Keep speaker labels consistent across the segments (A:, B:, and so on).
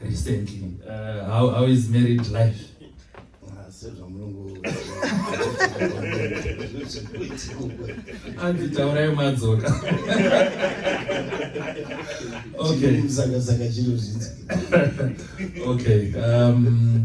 A: recently uh, how, how is married life ah, sezvamulungu anzi taurai madzoka okay saka saka chiro zvinzi okay um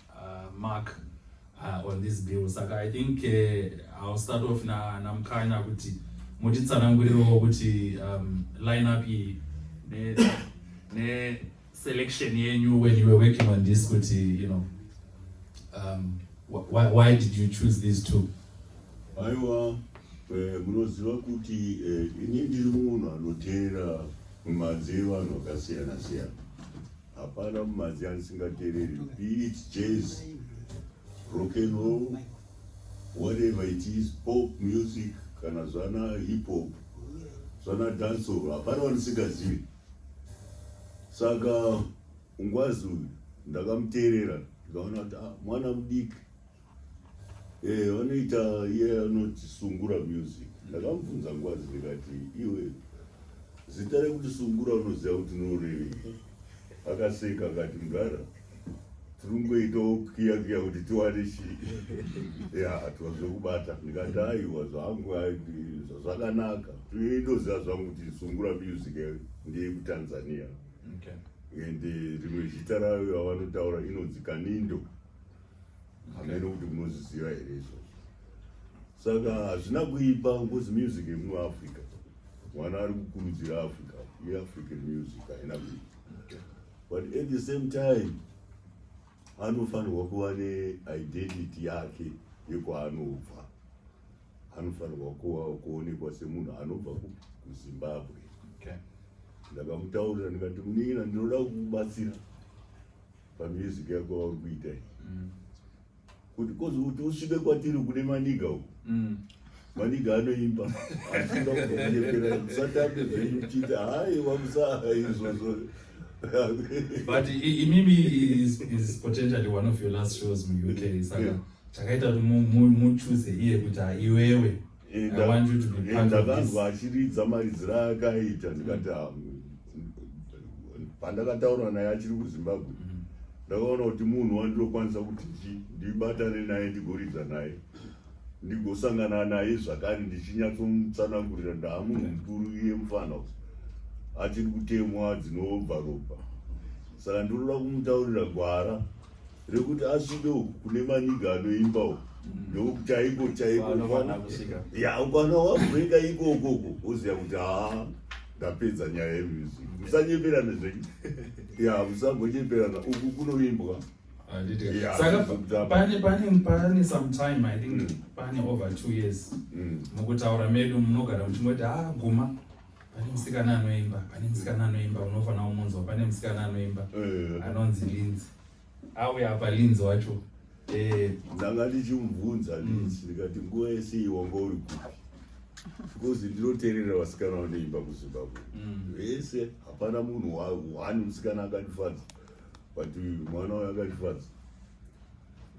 A: uh, mark uh, on this bill saka i think uh, i'll start off na namkanya kuti mutitsanangurirewo kuti um, line up iyi ne, ne selection yenyu when you were working on this kuti you know um, why, why did you choose these two aiwa eh, munoziva kuti eh, ini ndiri munhu anoteera mumanzee vanhu vakasiyana siyana Hapana mumadzi andisingatereri. Be it jazz, rock and roll, whatever it is, pop music, kana zvana hip hop, zvana dancehall, hapana wandisingazivi. Saka ungwazi uyu ndakamuteerera ndikaona kuti ah, mwana mudiki Eh, vanoita iye anoti sungura music ndakamubvunza nguva dzindikati iwe zita rekuti sungura unoziva kuti norevei akaseka akati mudhara tiringoitawo kiya kiya kuti tiwane chii ya tiwazvekubata ndikati aiwa zvangu zvakanaka ndoziva zvangu kuti sungura music ndeyekutanzania ende rimwe zita rayo yavanotaura inonzi kanindo okay. hameno kuti munozviziva here izvozvo saka hazvina kuipa ngozi music yemuafrica mwana ari kukurudzira africa yeafrican music haina kuipa but at the same time anofanirwa kuva neidentity yake yekwaanobva anofanirwa kuva kuonekwa semunhu anobva kuzimbabwe ndakamutaurira ndikati munin'ina ndinoda kukubatsira okay. pamusic yako wauri kuita iyi mm. kuti kozi kuti usvike kwatiri kune maniga uku mm. maniga anoimba asinga kunyepera musatambe zvenyu chiti hayi wamusaa izvozvo but imimi is, is potentially one of your last shows muuk saka chakaita kuti muchuse iye kuti haiwewe ndakanzwa achiridza maridziro aakaita ndikati pandakataura naye achiri kuzimbabwe mm. ndakaona kuti munhu wandinokwanisa kuti ndibatane naye ndigoridza naye ndigosangana naye zvakare ndichinyatsomutsanangurira ndaamunhu mukuru iye mufana kuti achiri kutemwa dzinobva ropa saka ndinoda kumutaurira gwara rekuti asvike uku kune maniga anoimba uku mm. nekuti chaiko chaiko ya ukwana wabrenga ikokoko oziva kuti haa ndapedza nyaya yemusic musanyeperana zvenyu ya musangonyeperana uku kunoimbwa pane sometime i think mm. pane over two years mm. mukutaura medu munogara muchingoti haa guma pane musikana anoimba pane musikana anoimba unofanira kumunzwa pane musikana anoimba eh. anonzi linzi auya apa linzi wacho eh. ndanga ndichimubvunza mm. linzi ndikati nguva yese iwanga uri kupi because ndinoterera vasikana vanoimba kuzimbabwe mm. vese hapana munhu wani musikana akandifadza but mwana wayo akandifadza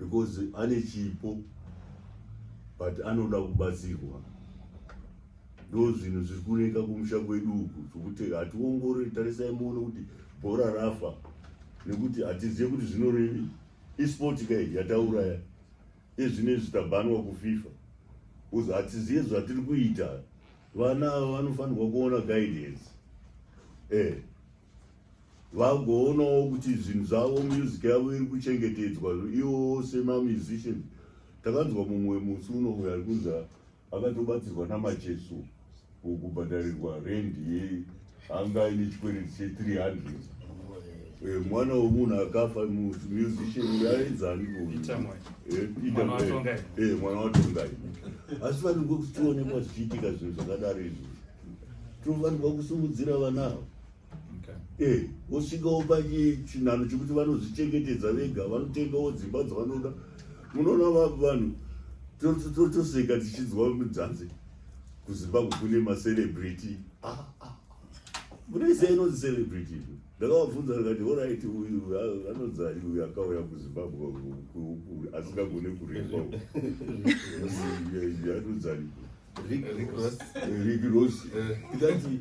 A: because ane chipo but anoda kubatsirwa ndozvinhu zviri kuneka kumusha kwedu uku zvokuti hationgorori tarisai muone kuti bhora rafa nekuti hatizive kuti zvinorevi esport kai yatauraya ezvine zvitabanwa kufifa bcause hatizive zvatiri kuita vana ava vanofanirwa kuona guidance eh vagoonawo kuti zvinhu zvavo music yavo iri kuchengetedzwa iwo semamusician takanzwa mumwe musi unomuya ari kunzaa akatobatsirwa namacheso kubhadharirwa rendi ye anga ine chikwereti che 300 eh, mwana wemunhu akafa musician yaedzani eh, eh, mwana watongai asi vanenge kutionekwa zvichiitika zvinhu zvakadaro izvi tofanirwa kusimudzira vana ava Eh, vosvikawo pachinano chekuti vanozvichengetedza vega vanotengawo dzimba dzavanoda munoona vanhu totoseka tichinzwa mudzanzi kuzimbabwe kune macelebrity ah, ah, munoisa ah. inonzi celebrity izvo ndakavabvunza ndikati orit uyu anonzari uyu akauya kuzimbabwe asingagone kuremba anonzari rick ross eh. ndikati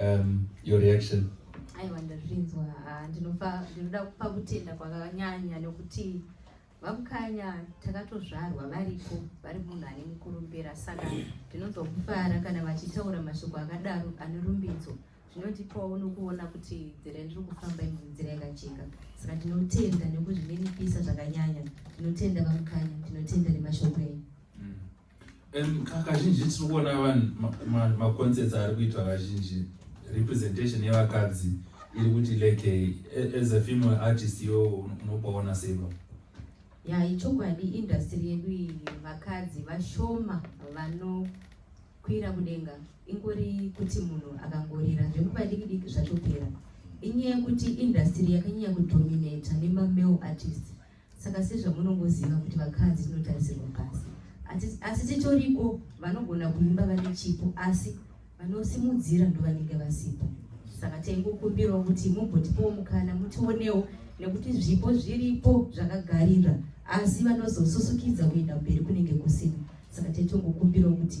A: um, your reaction aiwa ndazvinzwa ah, ndinopa ndinoda kupa kutenda kwakanyanya nekuti vamukanya takatozvarwa varipo vari munhu ane mukurumbira saka ndinonzwa kufara kana vachitaura mashoko akadaro ane rumbidzo zvinotipawo nokuona kuti nzira yandiri kufamba ino nzira yakajeka saka ndinotenda nekuzvininipisa zvakanyanya ndinotenda vamukanya ndinotenda nemashoko enyu kazhinji tiri kuona vanhu maconcerts ari kuitwa kazhinji representation yevakadzi iri kuti like as a female artist yo unopaona seiva ya ichokwadi industry yedu iyi vakadzi vashoma vanokwira kudenga ingori kuti munhu akangorira zvekupa diki diki zvatopera inyaya yekuti industry yakanyanya kudominata nemamale artist Saka sezvamunongoziva kuti vakadzi tinotarisirwa pasi, asi titoriko vanogona kuimba vane chipo, asi vanosimudzira ndovanenge vasipo. Saka taingokumbirawo kuti mumbotipowo mukana mutionewo, nekuti zvipo zviripo zvakagarira, asi vanozosusukidza kuenda mberi kunenge kusina. Saka taitongokumbirawo kuti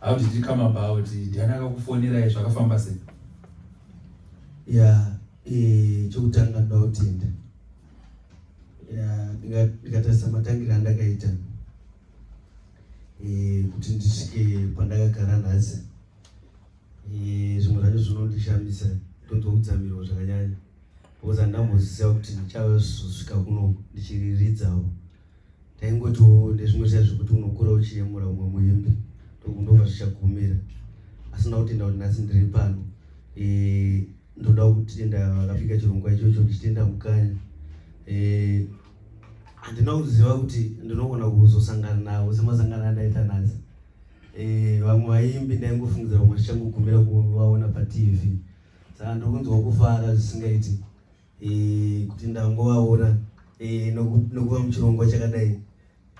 A: How did it come about? Ndiani akakufonerai zvakafamba sei? Yeah, eh chokutanga ndautenda. Yeah, ndikatarisa matangiro andakaita. Eh kuti ndisvike pandakagara nhasi. Eh zvimwe zvacho zvinondishamisa ndonzwa kutsamiro zvakanyanya. Because handambozisiya kuti ndichave kusvika kuno ndichiriridzawo. ndaingotiwo ndezvimwe zviya zvekuti unokura uchiyemura umwe muimbi ndokundova zvichagumira asi ndakutenda kuti nhasi ndiri pano eh, ndoda kutenda vakapika chirongwa ichocho ndichitenda mukanya eh, handina kuziva kuti ndinogona kuzosangana navo semasangano andaita nhasi eh, vamwe vaimbi ndaingofungidzira kumwe zvichangogumira kuvaona patv saka ndokunzwa kufara zvisingaiti eh, kuti ndangovaona eh, nokuva muchirongwa chakadai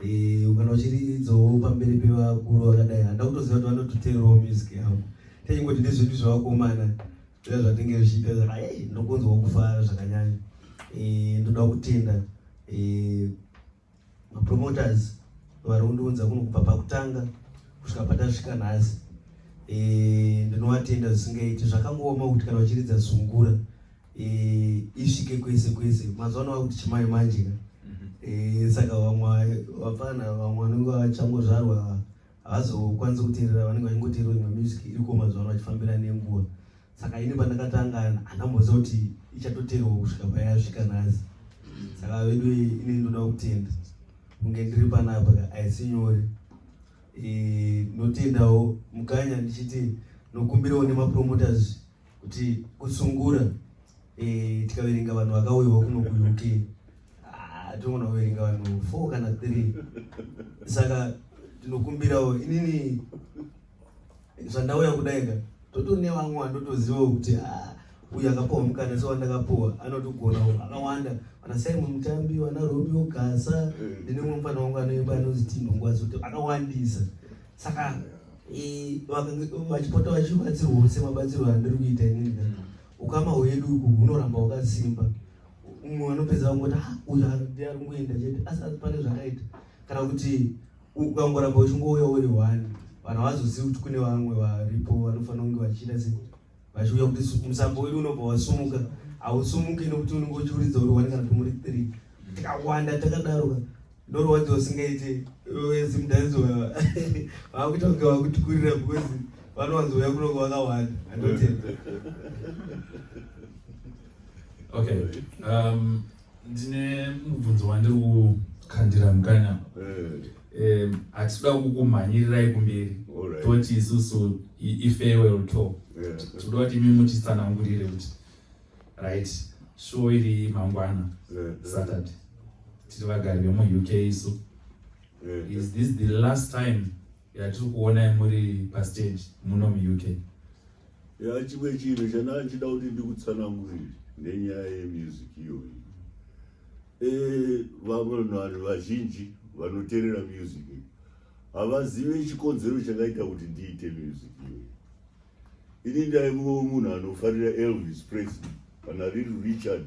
A: eh, kana uchiridzawo pamberi pevakuru vakadai handa kutoziva kuti vanototeerawo music yavo tanyingoti ndezvedu zvevakomana zviya zvatinge zvichiita saka ei ndokunzwa kufara zvakanyanya ndoda kutenda mapromoters vari kundiunza kuno kubva pakutanga kusvika patasvika nhasi eh, ndinovatenda zvisingaiti zvakangooma kuti kana vachiridza zungura eh, isvike kwese kwese mazuva ano vakuti chimai manje ka mhm. eh, saka vamwe vapfana vamwe vanenge vachangozvarwa havazokwanisi kuteerera vanenge vachingoteerera imwe music iriko mazuva ano vachifambira nenguva saka ini pandakatanga handamboziva kuti ichatoteerwa kusvika payasvika nhasi saka vedu ini ndoda kutenda kunge ndiri panapa haisi nyore e, ndotendawo mukanya ndichiti nokumbirawo nemapromoters kuti kutsungura eh, tikaverenga vanhu vakauyawo kuno kuuk ah, tinogona kuverenga vanhu four kana three saka tinokumbirawo inini zvandauya kudaika totone vamwe vandotozivawo kuti ah, uyu akapuwa mukana so wandakapuwa anotogona akawanda vana simon mutambi vana romeo gasa ndinemwe mufana wangu anoimba anonzi tinhongwazoto akawandisa saka vachipota vachibatsirwawo semabatsiro andiri kuita inini ukama hwedu uku hunoramba hwakasimba umwe vanopedza vangoti ah, uyu ndi ari kungoenda chete asi asi pane zvakaita kana kuti ukangoramba uchingouya uri one vanhu havazozivi kuti kune vamwe varipo vanofanira kunge vachiita se vachiuya kuti musambo wedu unobva wasumuka hausumuke nokuti unenge uchiuridza uri one kana kuti muri three tikawanda takadaroka ndorwadzo usingaite simdance vakuita kunge vakutikurira because vanowanzouya kunonge vakawanda andotenda okay um, Ndine mubvunzo wandiri kukandira mukanya eh. hatida kukumhanyirirai kumberi toti isusu ifarewell to tikuda kuti imi mutitsanangurire kuti right show iri mangwana saturday tiri vagari vemuuk isu is this the last time yatiri kuonai muri pastage muno muuk ya chimwe chinhu chana ndichida kuti ndikutsanangurire nenyaya yemusic iyoyi e, vavanhu vazhinji vanoterera music havazive chikonzero chakaita kuti ndiite music iyoyi Ini ndaivo munhu anofarira Elvis Presley kana Little Richard,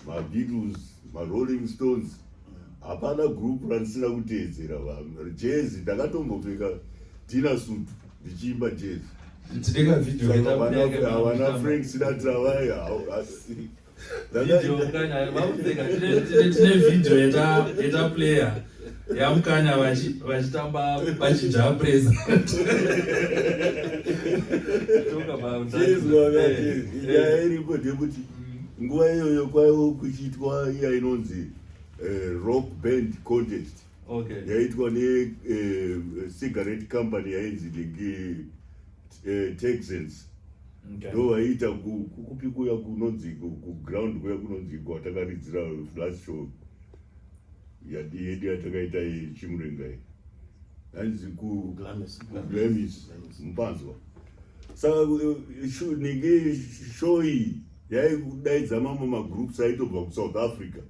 A: maBeatles, maRolling Stones. Hapana group randisina kuteedzera vanhu. Jazz ndakatombopfeka tina suit ndichiimba jazz. Ndideka video. Havana Frank Sinatra vaya. tine vhidhiyo yeta player yamukanya vachitamba vachinja presa nyaya iripo ndekuti nguva iyoyo kwaiwo kuchiitwa iya inonzi eh, rock band contest okay. yaitwa necigarette eh, company yainzi ligi eh, texans ndo vaiita kukupi kuya kunonzi kuground kuya kunonzi kwatakaridzira flash show yedu yatakaita chimurengai hanzi kuglamis mupanzwa saka eh, nenge shoyi yaikudaidza mamwe magroups aitobva kusouth africa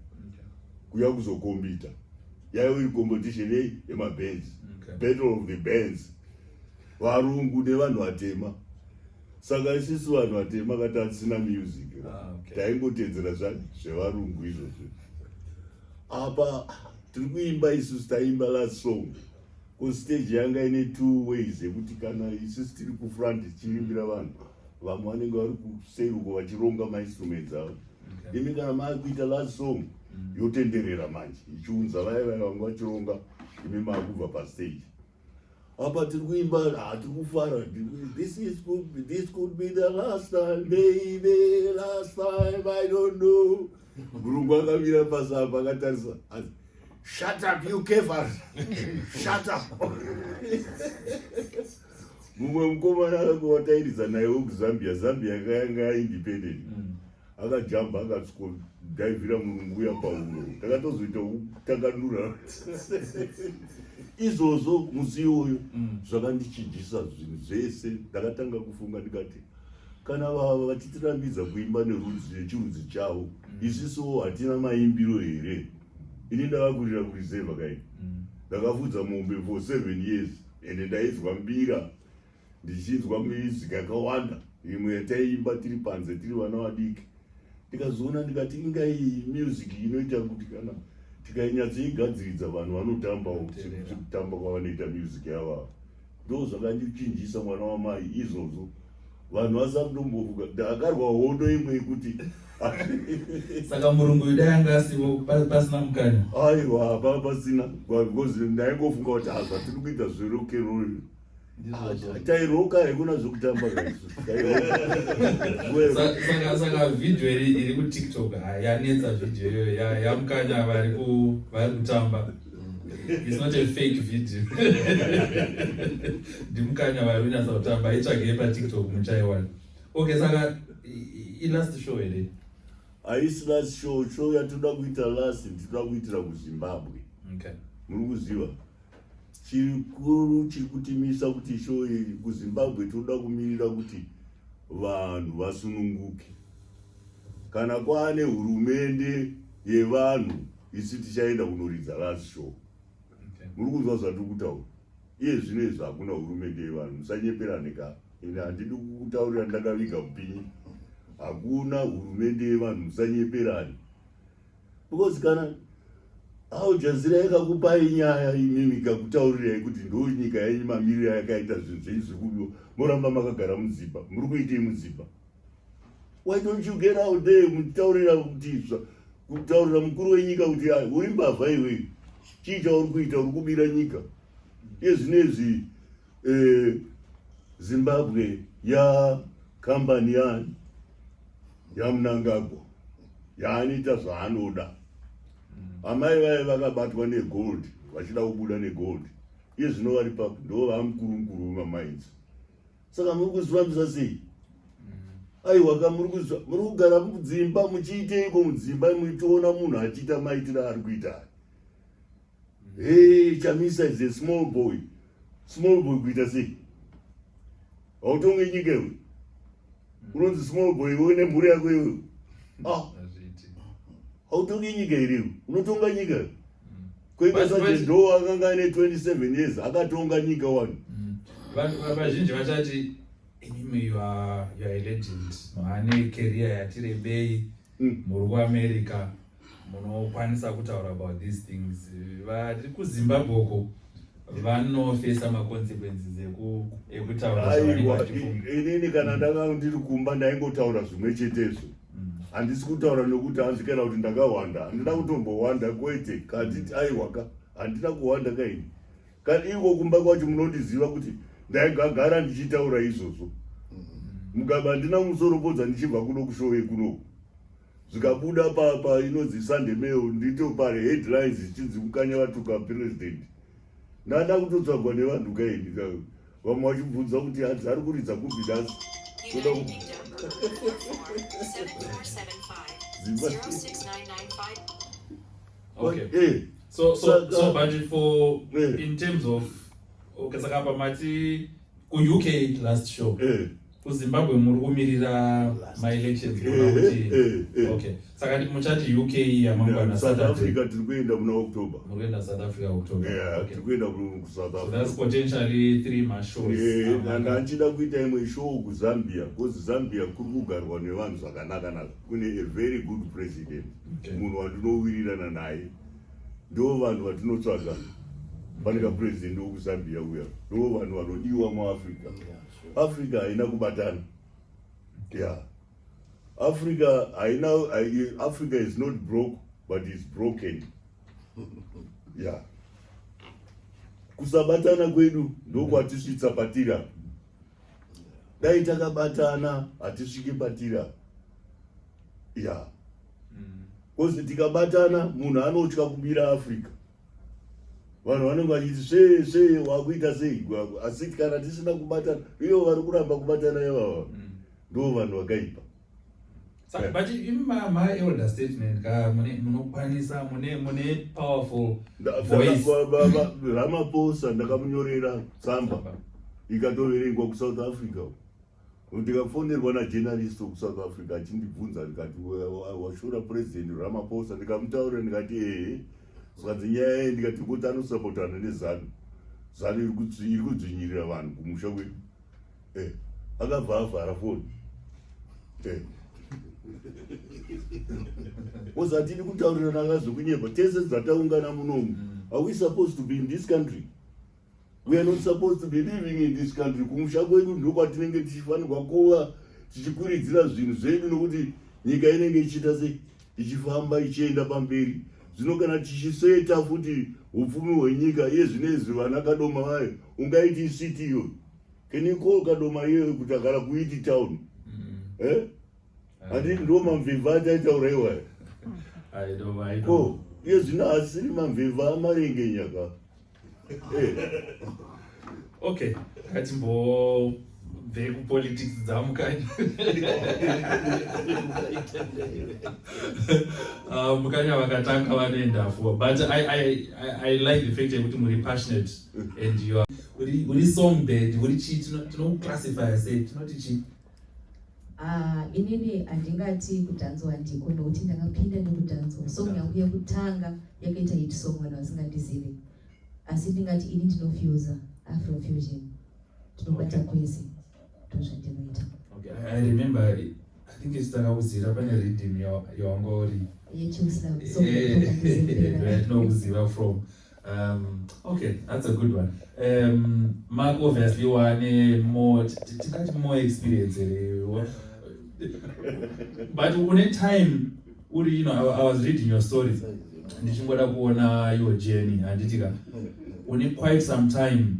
A: kuya kuzokombita yaive competition yei yemabands okay. battle of the bands varungu nevanhu vatema saka isisu vanhu vatema kati hatisina music ah, okay. taingotedzera zvevarungu izvozvo apa tiri kuimba isusu taimba last song Ko stage yanga ine two ways yekuti kana isisi tiri kufront tichirimbira vanhu vamwe vanenge vari kuseri uko vachironga mainstruments avo imi kana maakuita last song yotenderera manje ichiunza vaya vaya vanga vachironga imi maakubva pastage apa tiri kuimba hatiri kufara this is could be, this could be the last time baby last time i don't know gurungu akamira pasi apa akatarisa asi Shut up you Kevas. Shut up. Mumwe mukomana akawatairidza naye wekuZambia, Zambia yakanga independent. Mm. Akajamba akatsko daivira murungu uya pauro. Takatozoita takanura. Izvozvo musi iwoyo mm. zvakandichijisa zvinhu zvese. Ndakatanga kufunga ndikati kana vava vachitirambidza kuimba nerudzi nechirudzi chavo mm. isisowo hatina maimbiro here ini ndakakurira kurizevha kai mm. ndakafudza mombe for seven years ende ndainzwa mbira ndichinzwa music yakawanda imwe yataiimba tiri panze tiri vana vadiki ndikazoona ndikati inga iyi music inoita kuti kana tikainyatsoigadziridza vanhu vanotambawo kutamba kwavanoita music yavavo ndozvakandichinjisa mwana wamai izvozvo vanhu vasakutombovuka ndakarwa hondo imwe yekuti saka murungu yuda yanga asivo pasina mukanya aiwa hapa pasina because ndaingofunga kuti hazva tiri kuita zverokerol tairoka haikuna zvekutamba kaizosaka vhidhio iri kutiktok yanetsa vhidhio iyoyo yamukanya vari kutamba It's not a fake video. Ndimukanya vari unyasa kutamba itsvagei paTikTok muchaiwana. Okay, saka ilast show here? Haisi last show, show yatoda kuita last tinoda kuitira kuZimbabwe. Okay. Muri kuziva? Chikuru chiri kutimisa kuti show iyi kuZimbabwe tinoda kumirira kuti vanhu vasununguke. Kana kwaane hurumende yevanhu isu tichaenda kunoridza last show muri kunzwa zvatiri kutaura iye zvino izvi hakuna hurumende yevanhu musanyeperane ka ende handidi kutaurira ndakaviga kupinyi hakuna hurumende yevanhu musanyeperane because kana aujazira yakakupai nyaya imimi kakutaurirai kuti ndo nyika yenyu mamiriro yakaita zvinhu zvenyu zviri kubiwa moramba makagara mudzimba muri kuitei mudzimba why don't you get out there mutaurira kutizva kutaurira mukuru wenyika kuti ai uri mbavha iwe chii chauri kuita uri kubira nyika iye zvinezvi eh, zimbabwe ya kambani yani yamunangagwa yaanoita zvaanoda amai vaye vakabatwa negold vachida kubuda negold iye zvino vari papi ndo vamukuru mukuru vemamainzi saka muri kuzvifambisa sei aiwaka muri kuzva muri kugara mudzimba muchiiteiko mudzimba muchitoona munhu achiita maitira ari kuita hey chamisa is a small boy small boy kuita sei hautonge nyika iwe unonzi small boy iwe une mhuri yako iwe ah. hautonge nyika iriwe unotonga nyika iwe Kwenda saje ndo akanga ane 27 years akatonga nyika wani. Mm. Vanhu vazhinji vachati imimi you are you are a legend. Mane career yatirebei mm. muri kuAmerica munokwanisa kutaura about these things. Vari kuZimbabwe uko vanofesa maconsequences ekutaura. Inini kana ndanga ndiri kumba ndaingotaura zvimwe chetezvo. handisi kutaura nokuti hanzi kana kuti ndakahwanda handina kutombohwanda kwete kanditi aiwaka handina kuhwanda kaini kana iko kumba kwacho munondiziva kuti ndaigagara ndichitaura izvozvo mugaba handina musoropodza ndichibva kuno kushowe kunoku zvikabuda papa inonzi sunday mail ndito pari headlines zvichinzi kukanya vatuka president ndada kutotsvagwa nevanhu kaini vamwe vachibvunza kuti hanzi ari kuridza kupi dance toda Okay. Eh. So, so, so, but for eh. in terms of okay, saka pamati ku UK last show. Eh. kuzimbabwe muri kumirira maelections eh, kuona kuti eh, eh, okay saka ndi muchati uk yamangwana south africa tiri kuenda kuna october muri kuenda south africa october yeah tiri kuenda kusouth africa so that's potentially three ma shows yeah and anchida kuita imwe show kuzambia because zambia kuri kugarwa nevanhu zvakanaka naka kune a very good president munhu wandinowirirana naye ndo vanhu vatinotsvaga pane ka president wekuzambia uya ndo vanhu vanodiwa muafrica yeah. africa haina kubatana yeah africa haina africa is not broke but is broken yeah kusabatana kwedu ndokwatisvitsa patiri apa dai takabatana hatisvike patiri apa ya bcause tikabatana munhu anotya kubira africa vanhu vanenge vachiti svee svee wakuita sei gwagwa asi kana tisina kubatana iyo vari kuramba kubatana ivava mm. ndo vanhu vakaipa eh. but imi mama elder statement ka mune munokwanisa mune mune powerful voice ramaposa ndakamunyorera tsamba ikatoverengwa kusouth africa ndikafonerwa najournalist wekusouth africa achindibvunza ndikati washora president ramaposa ndikamutaurira ndikati ehe zvikanzi nyaya ye ndikati kuti anosapotana nezanu zanu iri kudzvinyirira vanhu kumusha kwedu eh, akabva avhara foni eh. ozatini kutaurirana akazvekunyeba tese dzataungana munomu are we supposed to be in this country We are not supposed to be living in this country. Kumusha kwedu ndiko kwatinenge tichifanirwa kuva tichikuridzira zvinhu zvedu nokuti nyika inenge ichiita sei ichifamba ichienda pamberi. Zvino kana tichiseta futi upfumi hwenyika iye zvinezvi vana kadoma vayo ungaiti city iyoyo. Can you call kadoma iyoyo kuti agara kuiti town? Mm. Eh? Handiti ndo mamvimva ataitaura iwayo. Ko iye zvino asiri mamvimva amarenge nyaka. okay ngatimbobve kupolitics dzamukanya ah, mukanya vakatanga vanoenda fua but I, I, I, i like the fact yekuti muri passionate and you are uri song bed uri chii tinokuclassifya sei tinoti chii Ah, inini handingati kudhanzwa handiko nokuti ndakapinda nekudhanzwa song yangu yekutanga yakaita hit song vanhu vasingandizive asi ndingati ini ndinofusa afrofusion tinobata kwese ndozvandinoita i remember i think isi takakuziva pane redim yawanga uri yechusam so eh, tinokuziva from Um, okay, that's a good one. Um, Mark obviously wane more, tingati more experience here. But une time, uri, you know, I, I was reading your story. Ndichingoda kuona your journey, handitika. Une quite some time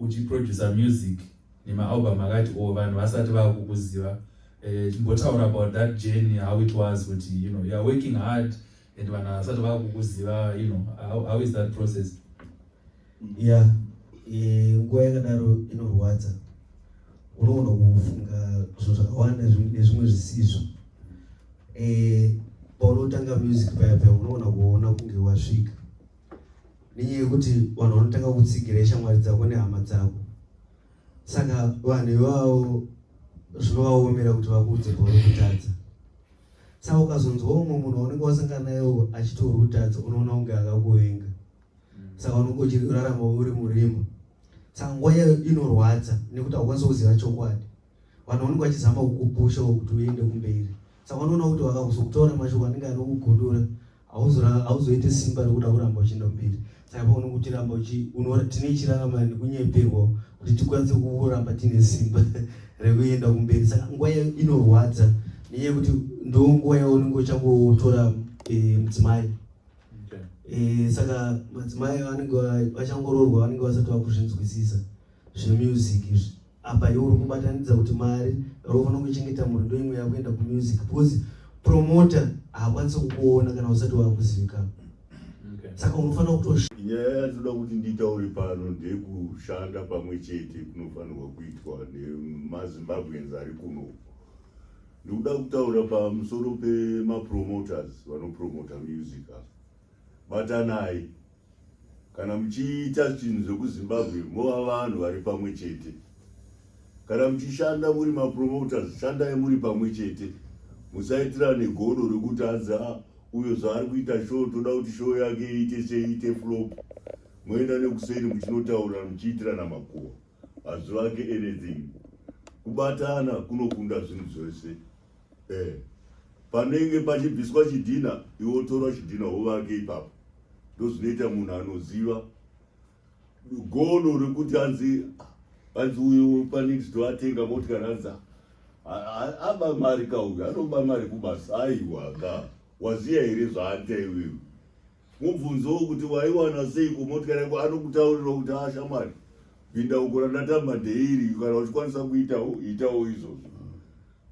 A: uchiproducer music nemaalbum akati o oh, vanhu vasati vakukuziva. Uh, chimbotaura about that journey, how it was, kuti, you know, you are working hard, and vanhu havasati vava kukuziva you know how, how is that process ya eh, nguva yakadaro inorwadza unogona kufunga zvinhu zvakawanda nezvimwe zvisizvo eh, paunotanga music paya paya unogona kuona kunge wasvika nenyaya yekuti vanhu vanotanga kutsigira ishamwari dzako nehama dzako saka vanhu ivavo zvinovaomera kuti vakuudze pauri kutadza saka ukazonzwa umwe munhu waunenge wasangana naye achitorwa utadzi unoona kunge akakuvenga mm. saka unenge uchirarama uri murima saka nguva yayo inorwadza nekuti haukwanisa kuziva chokwadi vanhu vanenge vachizama kukupusha kuti uende kumberi saka unoona kuti vakakuzokutora mashoko anenge anokugudura hauzoite simba rekuda kuramba uchienda mberi saka paona kuti ramba tine chiraramana nekunyeperwa kuti tikwanise kuramba tiine simba rekuenda kumberi saka nguva inorwadza nenyaya yekuti ndo nguva yaunenge uchangotora eh, mudzimai eh, saka madzimai vanenge vachangororwa vanenge vasati vakuzvinzwisisa zvemusic izvi apa iwe uri kubatanidza kuti mari yaunofana kuchengeta mhuri ndo imwe yakuenda kumusic because promoter haakwanisi kukuona kana usati wakuzivikanwa saka unofanira kutosha nyaya yatinoda kuti nditaure pano ndekushanda pamwe chete kunofanirwa kuitwa nemazimbabweans ari kuno ndikuda kutaura pamusoro pemapromoters vanopromota music ava batanai kana muchiita zvinhu zvekuzimbabwe mova vanhu vari pamwe chete kana muchishanda muri mapromoters shandai muri pamwe chete musaitira negodo rekuti anzi a ah, uyo zvaari kuita show toda kuti show yake iite seiite flop moenda nekuseni muchinotaurira muchiitirana makuwa hazvivake anything kubatana kunokunda zvinhu zvese eh panenge pachibviswa chidhina iwe wotora chidhina wovake ipapo ndozvinoita munhu anoziva gono rekuti anzi anzi uyo panext atenga motikari anzi aba mari ka uyo anoba mari kubasa aiwa ka waziya here zvaanita iwewe Mubvunzowo kuti waiwana sei kumotikari yako anokutaurira kuti haa shamwari pinda uko randatamba ndeiri kana uchikwanisa kuitawo itawo izvozvo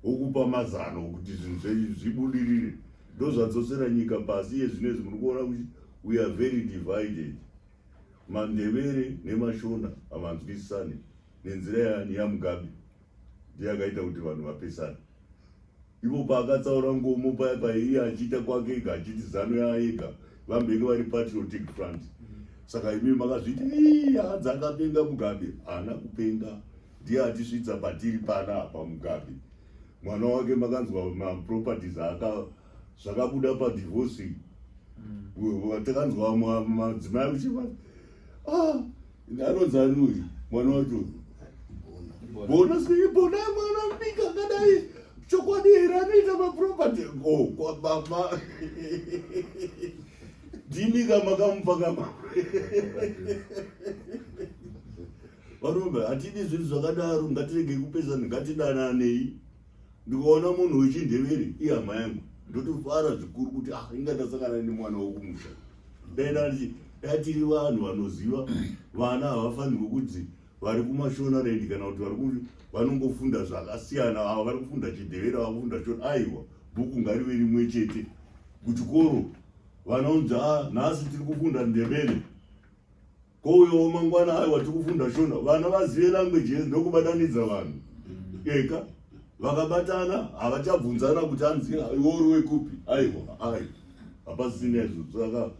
A: okupa mazano okuti zvinhu zvenyu zvibudirire ndozvadzosera nyika pasi iye zvino izvi muri kuona kuti we are very divided mandevere nemashona havanzwisisane nenzira yani yamugabe ndiye akaita kuti vanhu vapesana ivo paakatsaura ngomo paya paiye achiita kwake ega achiti zano yaega vambenge vari patriotic front saka imi makazviti iadza akapenga mugabe haana kupenga ndiye atisvitsa patiri pana apa mugabe mwana wake makanzwa maproperties aka zvakabuda padivorce mm. takanzwa madzimai uchivati ah, Anonzi ani uyu mwana wacho? Bona sei bona mwana mudiki akadai chokwadi here anoita maproperty ko oh, kwababa ndimi ka makamupa kama varombe hatidi zvinhu zvakadaro ngatirege kupesana ngatidananei ndikaona munhu wechindevere ihama yangu ndotofara zvikuru kuti ah inga ndasangana nemwana wokumusha daidati datiri vanhu vanoziva vana havafanirwe kuti vari kumashonaland kana kuti vari kuri vanongofunda zvakasiyana ava vari kufunda chidevere vakufunda shona aiwa bhuku ngarive rimwe chete kuchikoro vanaunzi a ah, nhasi tiri kufunda ndevere ko uyo mangwana ayo watikufunda shona vana vazive language yese ndokubatanidza vanhu eka vakabatana havachabvunzana kuti anzi iwori wekupi aiwa ai hapasisina izvozvo saka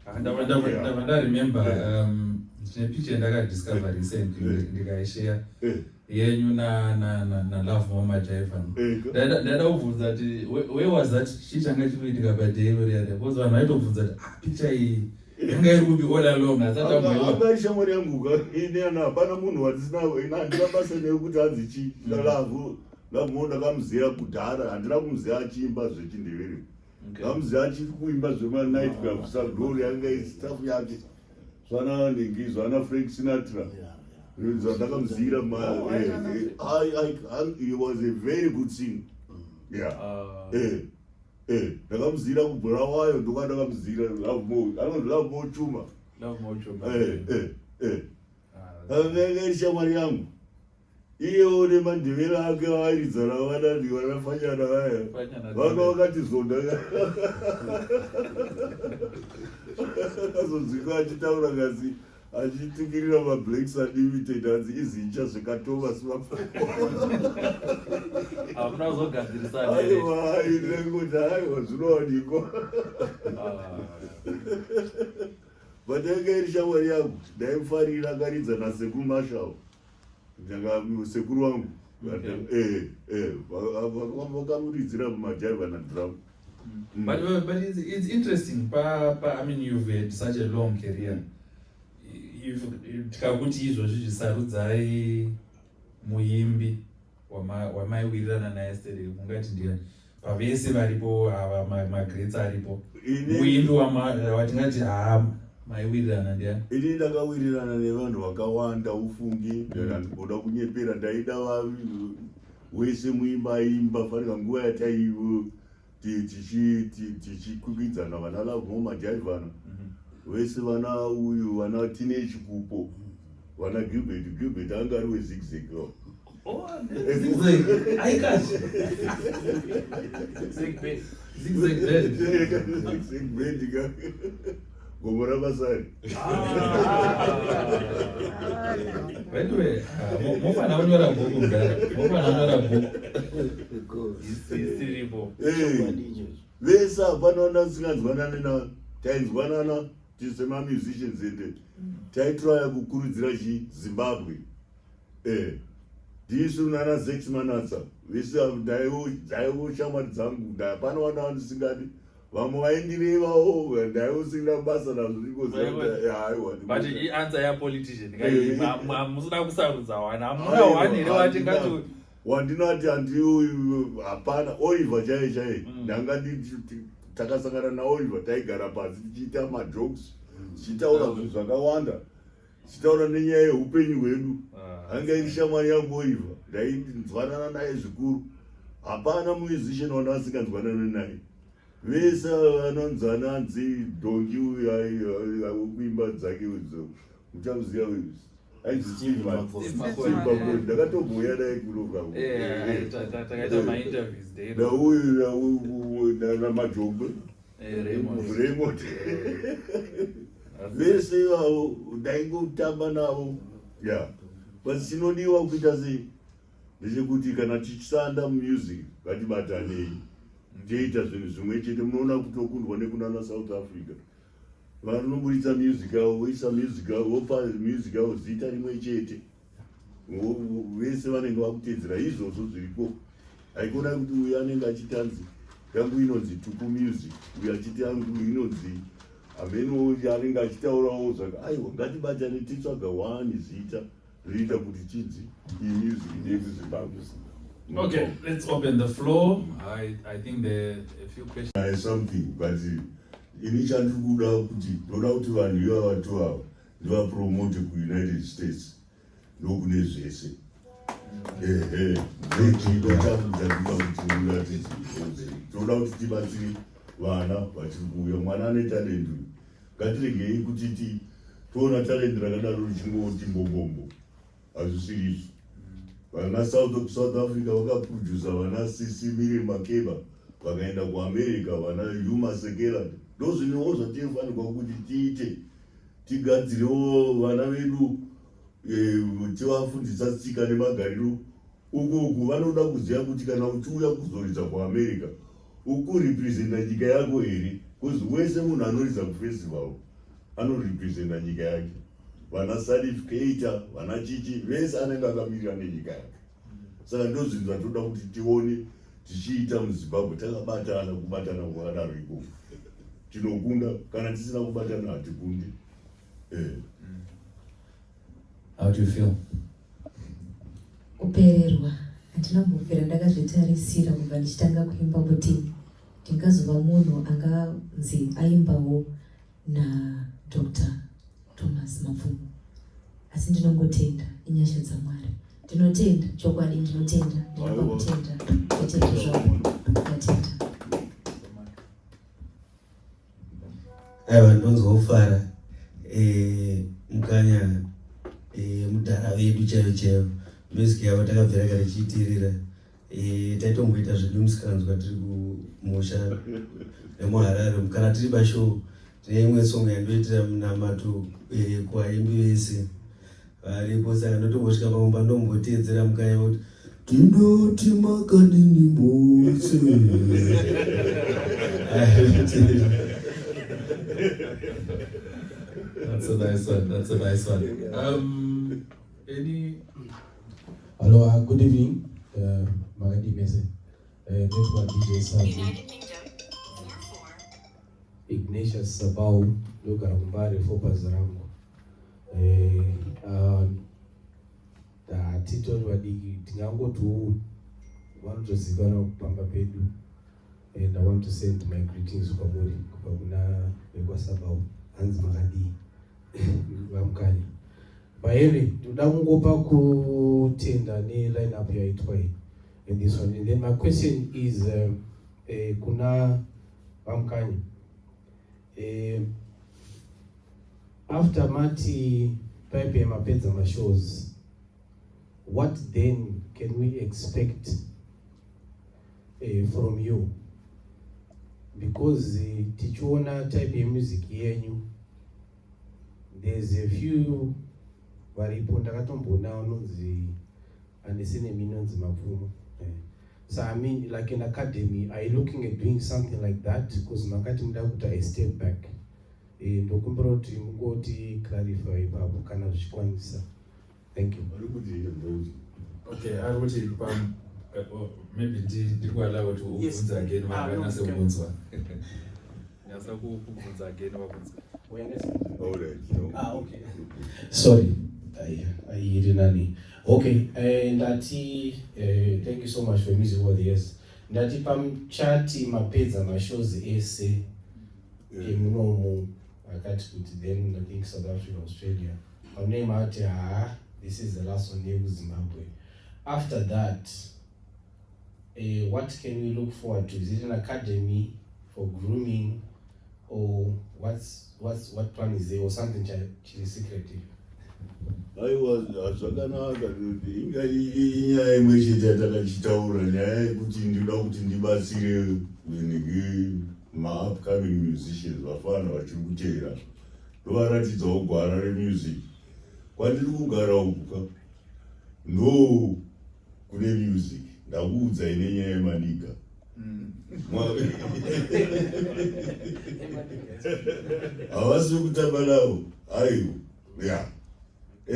A: ah, ndava ndaremembe um, ndine picha yandakadiscover recent ndikaisheya eh. yenyu nalove mama jaiva eh, ndaida kubvunza kuti where was that chii changa chikuitika paday roriya because vanhu vaitobvunza kuti ah, picha iyi yanga iri kupi all along asati amboiona ishamwari yangu ka ini ana hapana munhu wandisina ina handina basa naye kuti hanzi chi ndalavu lamuwo ndakamuziva kudhara handina kumuziva achiimba zvechindevere ndamuziva achiri kuimba zvemanight club saglory yanga istafu yake zvana ningi zvana frank sinatra zvandakamuziira he was a very good sing yeah uh, eh. Eh, ndakamuzira kubulawayo ndoka ndakamuzira love mo anonzi love mo chuma love mo chuma eh eh eh akanga ah, shamwari yangu iyewo nemandevera ake vairidzana vanani vanafanyana vaya vanga vakatizonda akazonzwika achitaura ngazi achitukirira mablacks unlimited hanzi izinja zvikatova sivahamuna kuzogadzirisaaivaainenguti aiwa zvinowanikwa but yanga iri shamwari yangu ndaimufarira akaridza nasekumashavo ndaka sekuru wangu eh, eh, vakamuridzira kumajai vana drum mm. but, uh, but it's, it's interesting pa, pa i mean you've had such a long career tikakuti izvozvi zvisarudzai muimbi wamaiwirirana naye sere ungati ndiani pavese varipo ava magrets aripo uimbi watingati haa maiwirirana ndiani ini ndakawirirana nevanhu vakawanda ufungi mm. ndandigoda kunyepera ndaida vavi wese muimba aimba fanira nguva yataivo tichikwikwidzana vana love mo majaivana mhm. vese vana uyu vana teenage kupo vana gilbert gilbert anga ari wezigzeg oh, gomo rabasari veduwe mofana unyora bhuku mdara mofana unyora bhuku isiripo vese hapana ona usinganzwanani na tainzwanana tise mamusicians ende taitraya kukurudzira chi zimbabwe eh ndisu nana zex manatsa vese ndaivo shamwari dzangu ndapana vana vandisingadi vamwe vaindirevawo ndaive usina basa nazvoikoaiwabut iansa yapolitician kamusina eh. kusarudza wana amuna wani here watingati wandinati andiuyu hapana oiva chaiye chaiye mm. ndanga takasangana naoiva taigara pasi tichiita majokes mm. tichitaura zvinhu zvakawanda Sitaura nenyaya yeupenyu hwedu ah, anga iri shamwari yangu oiva ndainzwanana naye zvikuru hapana musician wanga asinganzwanane naye vese vanonzi ananzi dongi uyu wekuimba dzake udzo uchamuziva uyu ainzi steve makoni ndakatomboya naye kunokaunauyu namajongwe Raymond vese ivavo ndaingotamba navo ya but chinodiwa kuita sei ndechekuti kana tichishanda mumusic ngatibatanei toita zvinhu zvimwe chete munoona kutokundwa nekunana south africa vanoburitsa music yavo voisa music yavo vopa music yavo zita rimwe chete vese vanenge vakutedzera izvozvo zviriko haikona kuti uyu anenge achitanzi yangu inonzi tuku music uyu achiti yangu inonzi ameno anenge achitaurawo zvaka aiwa ngatibatane titsvaga wani zita rinoita kuti chinzi imusic nedu zimbabwe Okay, let's open the floor. I, I think there are a few questions. I something, but ini chandikuda kuti ndoda kuti vanhu ivavatovava ndivapromote kuunited states ndokune zvese ehe ndochido changu chandinoda kuti muratidze toda kuti tibatsire vana vachiri kuuya mwana ane talent uyu ngatiregei kuti ti toona talent rakadaro richingoti mbombombo hazvisiri izvo vana south of south africa vakaprodusa vana sisi miri makeba vakaenda kuamerica vana yuma sekerand ndozvinewo zvatinofanirwa kuti tiite tigadzirewo vana vedu eh, tivafundisa tsika nemagariro Ukuku vanoda kuziva kuti kana uchiuya kuzoridza kuamerica ukurepresenta nyika yako here bcause wese munhu anoridza kufestival anorepresenta nyika yake vana salif keita vana chichi vese anenge akamirira nenyika yake saka ndozvinhu zvatoda kuti tione tichiita muzimbabwe takabatana kubatana kwakadaro ikoko tinokunda kana tisina kubatana hatikundi eh. How do you feel? Kupererwa handina kumbopera ndakazvitarisira kubva ndichitanga kuimba kuti ndingazova munhu anganzi aimbawo nadr thomas mapfumo asi ndinongotenda inyasha dzamwari ndinotenda chokwadi ndinotenda ndinoda kutenda kutenda zvavo ndatenda aiwa ndonzwa kufara eh, mukanya eh, mudhara vedu chaivo chaivo music yavo takabvira kare chiitirira eh, taitomboita zvedu musikanzwa tiri kumusha nemuharare kana tiri bashow tine imwe song yandoitira munamato kwaimbi vese Varipo saka ndotongosvika pamumba ndomboteedzera mukaya kuti tinoti makadini mose That's a nice one. That's a nice one. Um, any? Hello, uh, good evening. Uh, Magadi Mese. Uh, Network DJ Saji. Ignatius Sabau, Luka Rumbari, Fopa Zarango. hatitori um, vadiki tingangotiwo vanotozikanwa kupamba pedu and i want to send my greetings kwamuri kubva kuna vekwasabau hanzi makadii vamukanya baere ndoda kungopa kutenda neline up yaitwa iyi and this one and then my question is uh, uh, kuna vamukanya Eh, after mati paipe mapedza mashows what then can we expect eh, from you because eh, tichiona type yemusic yenyu there's a few varipo ndakatomboona vanonzi Handisi nemi inonzi mapfumo. Eh. So I mean like in academy are you looking at doing something like that because makati muda kuita a step back. Eh, ndokumbira kuti mungoti clarify ipapo kana zvichikwanisa. Thank you. Okay, I would take pam maybe ndiri kuallow kuti ubvunze again ah, vakanase kubvunzwa. Nyasa kubvunza again vakunzwa. All right. No. Ah, okay. Sorry. I, I, nani Okay, uh, ndati uh, thank you so much for music all the years. Ndati pamuchati mapedza mashows ese emunomu akati kuti then I think South Africa, Australia. Pamune mati haa this is the last one yekuzimbabwe. After that Uh, what can we look forward to? Is it an academy for grooming or what's, what's, what plan is there or something chiri secretive? aiwa zvakanaka kuti inga inyaya imwe chete yatakachitaura nyaya yekuti ndinoda kuti ndibatsire nhingi maupcoming musicians vafana vachiri kuteera ndovaratidzawo gwara remusic kwandiri kugara ukuka no kune music ndakuudzai nenyaya yemaniga havasi kutamba navo aiwa ya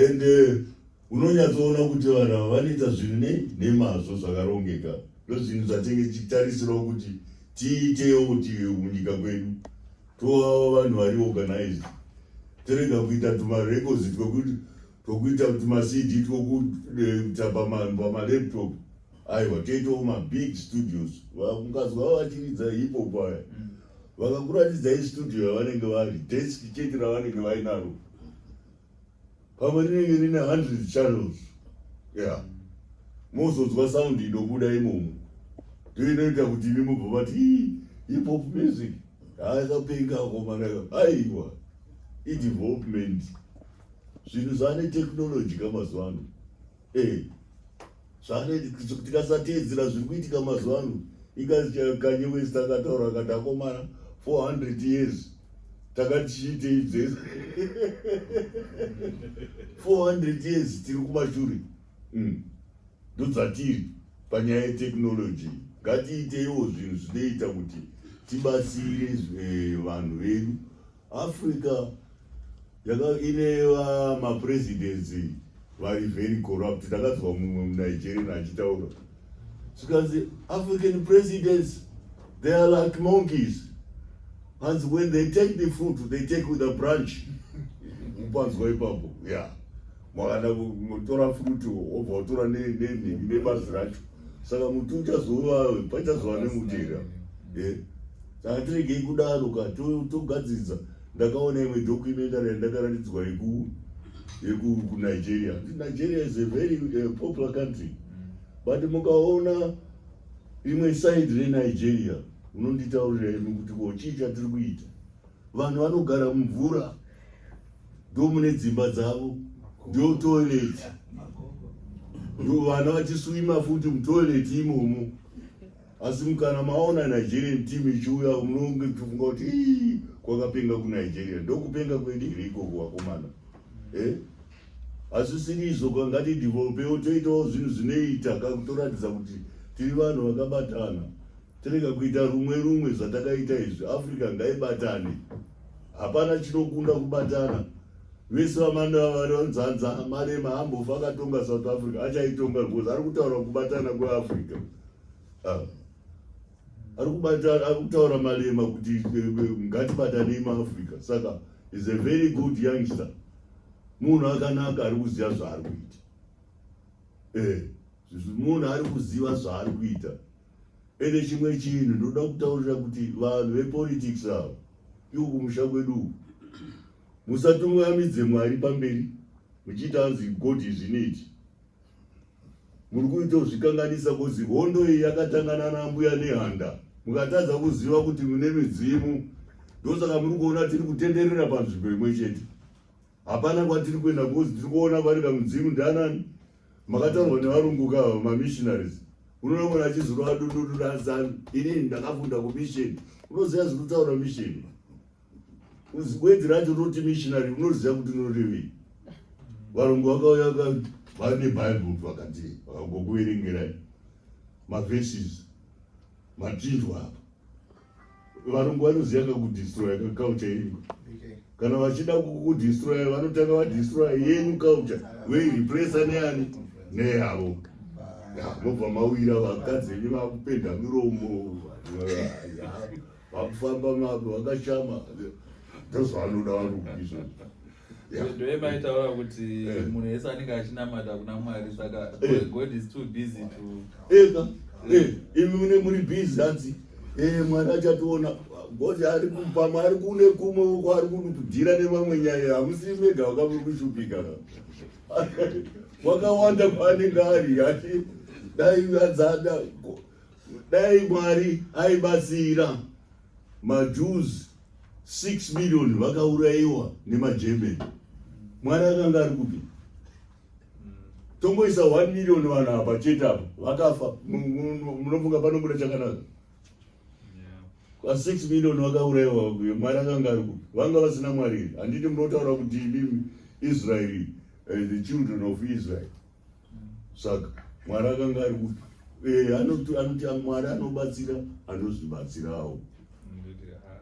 A: and eh, unonyatsoona kuti vanhu ava vanoita zvinhu nei nemazvo zvakarongeka ndozvinhu zvatenge tichitarisirawo kuti tiitewo kuti munyika kwedu tovawo vanhu vari organized tirega kuita tumarecords twekuti tokuita kuti macd tokuita eh, pamalaptop aiwa toitawo mabig studios mukadzi vavo vachiridza hipo paya mm. vakakuratidzai studio yavanenge vari desk chete ravanenge vainaro pamwe rinenge rine hundred channels ya mozodzwa sound inobuda imomo ndoinoita kuti imi mubva vati hipop music haakapenga akomana aiwa idevelopment zvinhu zvaane technology ka mazuva ano e zvaane tikasateedzera zviri kuitika mazuva ano ikazikanye wese takataura akati akomana 400 years takati chiitei dzese 400 years tiri kumashure mm. ndodzatiri panyaya yetechnology ngatiiteiwo zvinhu zvinoita kuti tibatsire eh, vanhu vedu Africa yaka ine va ma presidents vari very corrupt takazwa mumwe mu Nigeria achitaura zvikanzi African presidents they are like monkeys hanzi when they take the fruit they take with a branch mupanzwa ipapo yeah mwakada kutora fruit obva watora ne ne ne nebazi racho saka muti uchazova pachazova nemutira yeah. Saka tiregei kudaro ka togadzidza ndakaona imwe documentary yandakaratidzwa yeku yeku kunigeria nigeria is a very uh, popular country but mukaona imwe side renigeria unonditaurira imi kuti ko chii chatiri kuita vanhu vanogara mumvura ndomune dzimba dzavo ndio toilet vana vachiswima futi mutoilet imomo asi mukana maona nigerian team ichiuya unonge tichifunga kuti ii kwakapenga kunigeria ndokupenga kwedu here ikoko vakomana eh? asi sirizo kangati developewo toitawo zvinhu zvinoita kakutoratidza kuti tiri vanhu vakabatana tirega kuita rumwe rumwe zvatakaita izvi africa ngaibatane hapana chinokunda kubatana vese vamanda vari vanzanza marema ambofa akatonga south africa achaitonga because ari kutaura kubatana kweafrica ah. ari kubata ari kutaura malema kuti eh, eh, ngatibatanei maafrica saka is a very good youngster munhu akanaka ari kuziva zvaari kuita eh, munhu ari kuziva zvaari kuita ende chimwe chinhu ndoda kutaurira kuti vanhu vepolitics ava iwo kumusha kwedu uku musatungamidze mwari pamberi muchiita anzi god izvineti muri kuita kuzvikanganisa kozi hondo iyi yakatangana nambuya nehanda mukatadza kuziva kuti mune midzimu ndosaka muri kuona tiri kutenderera panzvimbo imwe chete hapana kwatiri kuenda kozi tiri kuona vari kamudzimu ndianani makataurwa nevarungu ka mamissionaries unoona mwana achizorova dundundu raazanu inini ndakafunda kumisheni unoziva zviri kutaura misheni Gwedzi racho rinoti missionary unoziva kuti rinorevei. Varungu vakauya vakati vane Bible vakati vakangokuverengerai maverses matinzwa apa. Varungu vanoziva kakudestroya kaculture yenyu. Kana vachida kukudestroya vanotanga vadestroya yenyu culture voirepresa neani neyavo. Okay mobva mawira vakadzi venyu vakupenda miromo vakufamba mavo vakashama ndozvanoda varukizvo ndoemaitaura kuti eh. munhu ese anenge achinamata kuna mwari saka eh. god is too busy to eka eh, imi mune muri busy hanzi mwari achationa ngozi ari pamwe ari kune kumwe uko ari kudira nemamwe nyaya hamusi mega wakamuri kushupika wakawanda kwaanenge ari ati dai adzada Dai Mwari aibatsira maJews 6 million vakaurayiwa nemaGerman. Mwari akanga ari kupi? Tongoisa 1 million vanhu apa chete apa vakafa. Munofunga panobuda chakanaka? Kwa 6 million vakaurayiwa Mwari akanga ari kupi? Vanga vasina Mwari. Handiti munotaura kuti imi Israel, uh, the children of Israel. saka mwari akanga ari kuti eh, anoti anoti mwari anobatsira anozvibatsirawo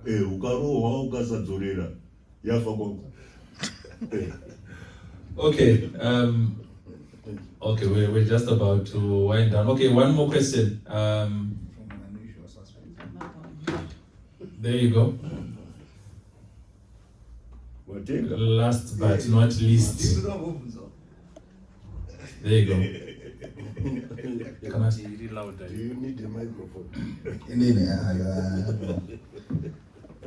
A: eh, ukarohwa ukasadzorera yafa kwako eh. okay um, okay we're, we're just about to wind down okay one more question um, there you go Watenga. Last but not least. There you go. Kana tiri louder. Do you need a microphone? Inini ayo.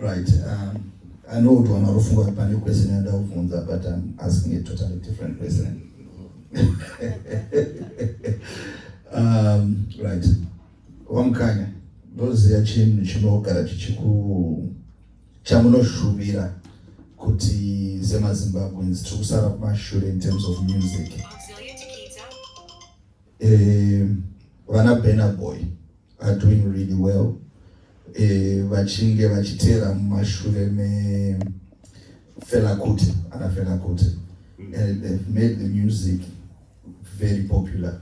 A: Right. Um, I know kuti wana rufunga pane question yanda kuvhunza but I'm asking a totally different question. um, right. Wamkanya. Ndoziya chinhu chinogara chichiku chamunoshuvira kuti semazimbabweans tiri kusara kumashure in terms of music eh, vana um, benaboy are doing really well eh, vachinge vachiteera mumashure mefelakuti ana felakuti mm. and they've made the music very popular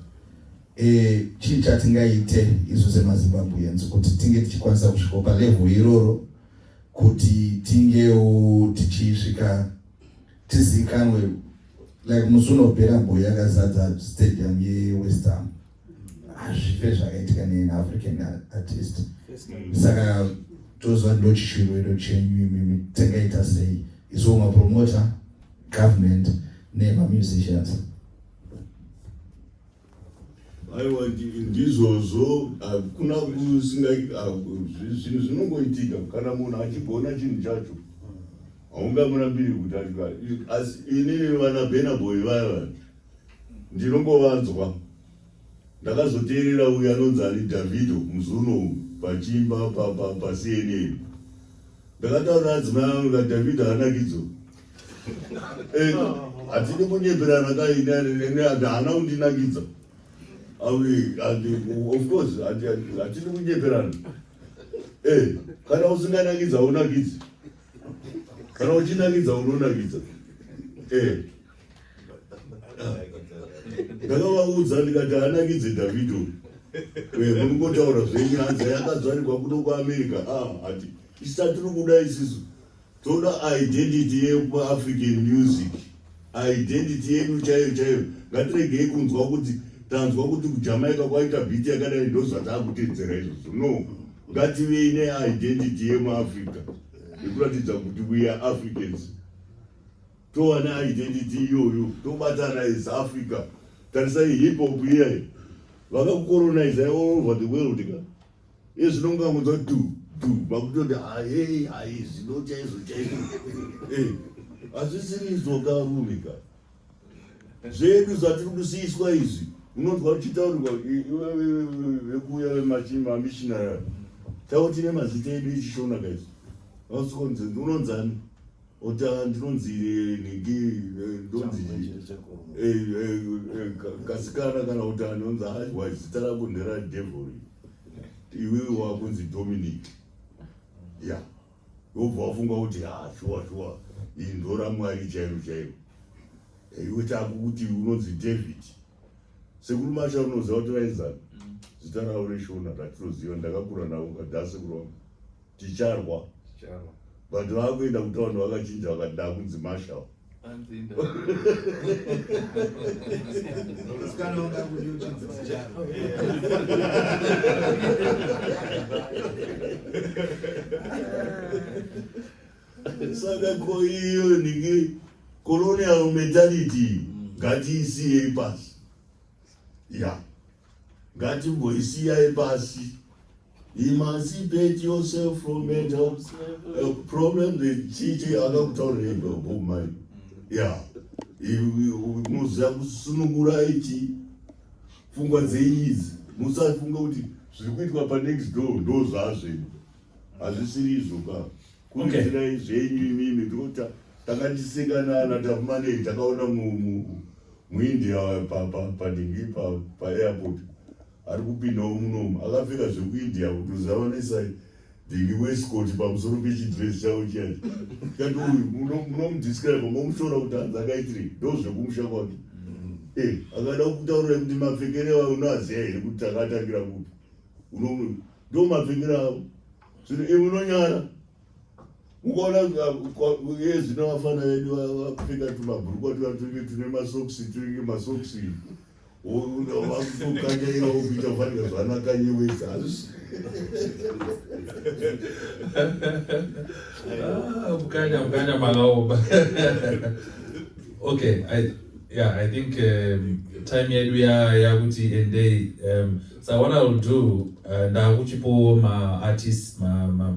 A: eh, chii chatingaite isu semazimbabweans kuti tinge tichikwanisa kusvika palevel iroro kuti tingewo tichisvika tizikanwe like musi unopera boy yakazadza stadium yewestham hazvife zvakaitika nean african artist saka toziva ndochishuviro chenyu imimi tingaita sei isu mapromota government nema musicians aiwa ndizvozvo hakuna kusinga zvinhu zvinongoitika kana munhu achigona chinhu chacho haungamurambiri kuti achikara asi inini vana benaboy vaya vaya ndinongovanzwa Ndakazoteerera uyu anonzi ani Davido muzuno uyu pachiimba paCNN. Ndakataura adzimai angu ka Davido hanakidzo. Eh, hatidi kunyeperana ka ini haana kundinakidza. Of course hatidi kunyeperana. Eh, kana usinganakidza haunakidzi. Kana uchinakidza unonakidza. Eh. ndakavaudza ndikati anakidze davido eh, muri ngotaura zvenyu hanzi yakazvarirwa kuno kuamerica ah, hati isatiri kuda isisu toda identity yekuafrican music identity yedu chaiyo chaiyo ngatiregei kunzwa kuti tanzwa kuti kujamaica kwaita biti yakadai ndozvataakutedzera izvozvo no ngativei neidentity yemuafrica yekuratidza kuti weare africans towana identity iyoyo tobatana as africa tarisai hip hop iyayi vakakukoronizai all over the world ka iye zvinonga mudzwa du du vakutoti ahei haizi no chaizo chaizo eh, hazvisirizvo ka rume ka zvedu zvatiri kusiiswa izvi unonzwa uchitaurirwa vekuuya vemamishinari tavo tine mazita edu echishona kaizvi vasukonzi unonzani Ota ndinonzi nhingi ndonzi kasikana kana kuti anonzi aiwa zita rako ndera devil iwewe wakunzi Dominic ya wobva wafunga kuti ha shuwa shuwa iyi ndora mwari chairo chairo iwe takukuti unonzi David sekuru masha unoziva kuti vaizana zita ravo reshona ratinoziva ndakakura navo kadhase kurova ticharwa Charo. but vakuenda kutaund vakachinja vakati ndakunzi marshal Hanzi inda. Musikana wanga kuti uchinzi Charo. saka ko iyo ndinge colonial mentality ngatiisiyei pasi ya ngatimboisiyai pasi Emancipate yourself from mental uh, problem the chichi akakutaurira indo bob mai ya muziva kusunungura ichi pfungwa dzenyu idzi musafunga kuti zviri kuitwa panext door ndo zvazvenyu hazvisiri izvo ka kuitirai zvenyu imimi ndikota takatisekanana takumanei takaona muindia padingi paairport ari kupindawo munomu akapfeka zvekuindia kutozavanisa dhingi weskoti pamusoro pechidress chavo chiyacho kati uyu munomudescribe momushora kuti hanzi akaitire ndo zvekumusha kwake mm. eh, akada kutaura kuti mapfekere avo unoaziva here kuti takatangira kupi ndo mapfekere avo zvino iwe unonyara ukaona ye zvino vafana vedu vapfeka tumabhurukwa tuva tunenge tune masoksi tunenge masoksi unovakukanyaira ukuita fanira zvanakanyewedza hazvisi ah, kukanya kukanya makaoma okay I, yeah i think um, time yedu yakuti ya endei um, so what iwill do uh, ndakuchipowo maartist ma, ma,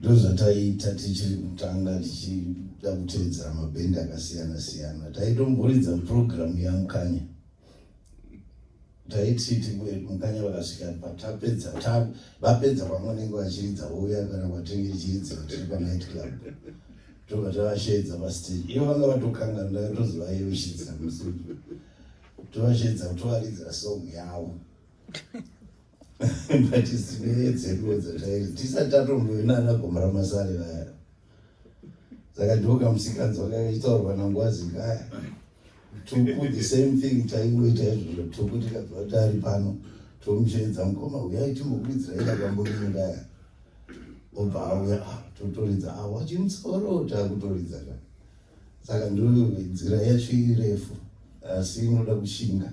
A: Ndozvataiita tichiri kutanga tichida kuteedzera mabhendi akasiyana siyana. Taitomboridza program yamukanya. Taiti mukanya vakasvika patapedza ta vapedza pamwe vanenge vachiridza vouya kana kwatinge tichiridzira tiri panight club. Tobva tavasheedza pastage. Ivo vanga vatokanga ndakatozovayeushidzira musutu. Tovasheedza kutovaridzira song yavo. mbatisinewe dzeduwo dzatairi tisati tatombovi nana gomora masare vaya saka ndiwo kamusikanzi wakataurwa nangwazi kaya tuku the same thing taingoita izvozvo tuku tikabva tari pano tomuchenedza mukoma uyai timbokuidzira ida kamborinodaya obva auya ah, totoridza ah, wachimusoro takutoridza ka saka ndoinzira yacho irefu asi inoda kushinga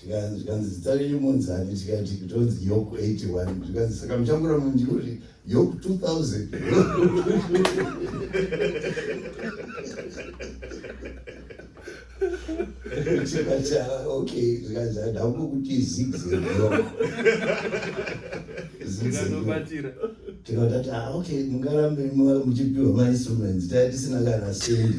A: zvikanzi zita renyu munzani tikati kutonzi yok 81 zvikanzi saka muchakura munjuri yok 2000 tikati ah, ok zvikanzi adambo kuti zigzegzigzeobatira tikatati ah, ok mungarambe muchipiwa mainstruments taa tisina kana sendi